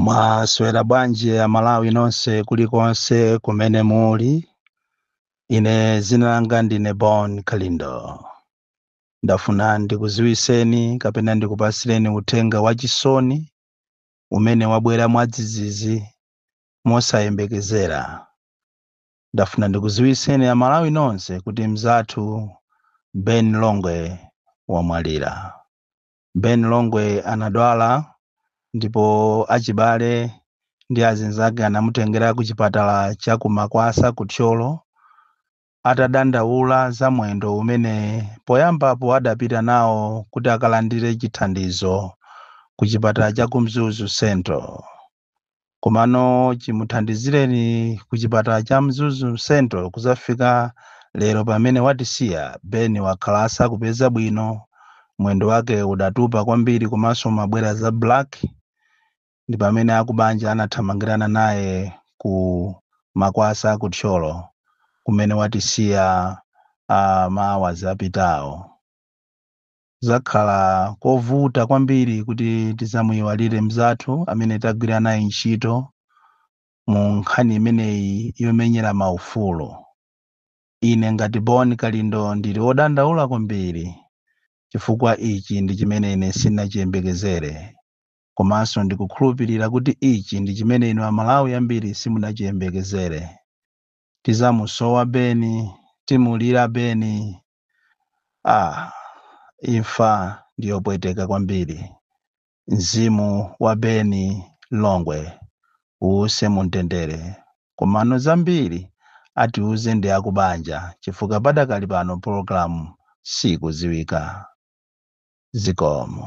mwaswera bwanji amalawi nonse kulikonse kumene muli ine zina langa ndine bon kalindo ndafuna ndikuziwiseni kapena ndikupasireni uthenga wachisoni umene wabwera mwadzidzidzi mosayembekezera ndafuna ndikuziwiseni amalawi nonse kuti mzathu ben longwe wamwalira Ben Longwe anadwala ndipo achibale ndi azinzake anamutengera ku chipatala cha ku Makwasa ku Thyolo atadandaula za mwendo umene poyambapo adapita nawo kuti akalandire chithandizo ku chipatala cha ku Mzuzu Central. komano chimuthandizireni ku chipatala cha mzuzu central kuzafika lero pamene watisiya ben wakhala asakupeza bwino mwendo wake udatupa kwambiri komanso umabwera za black ndi pamene akubanja anathamangirana naye ku makwasa ku thyolo kumene watisiya uh, maawazi apitawo kuzakhala kovuta kwambiri kuti tizamuyiwalire mzathu amene tagwira naye ntchito mu nkhani imeneyi yomenyera maufulu. Ine ngati Bon Kalindo ndili wodandaula kwambiri chifukwa ichi ndi chimene ine sinachiyembekezere komanso ndikukhulupirira kuti ichi ndi chimene inu Amalawi ambiri simunachiyembekezere. Tizamusowa Beni, timulira Beni. Ah, imfa ndi yopweteka kwambiri. Mzimu wa Beni Longwe uuse mumtendere. Komano zambiri atiuze ndi akubanja chifukwa padakali pano pologalamu siikudziwika. Zikomo.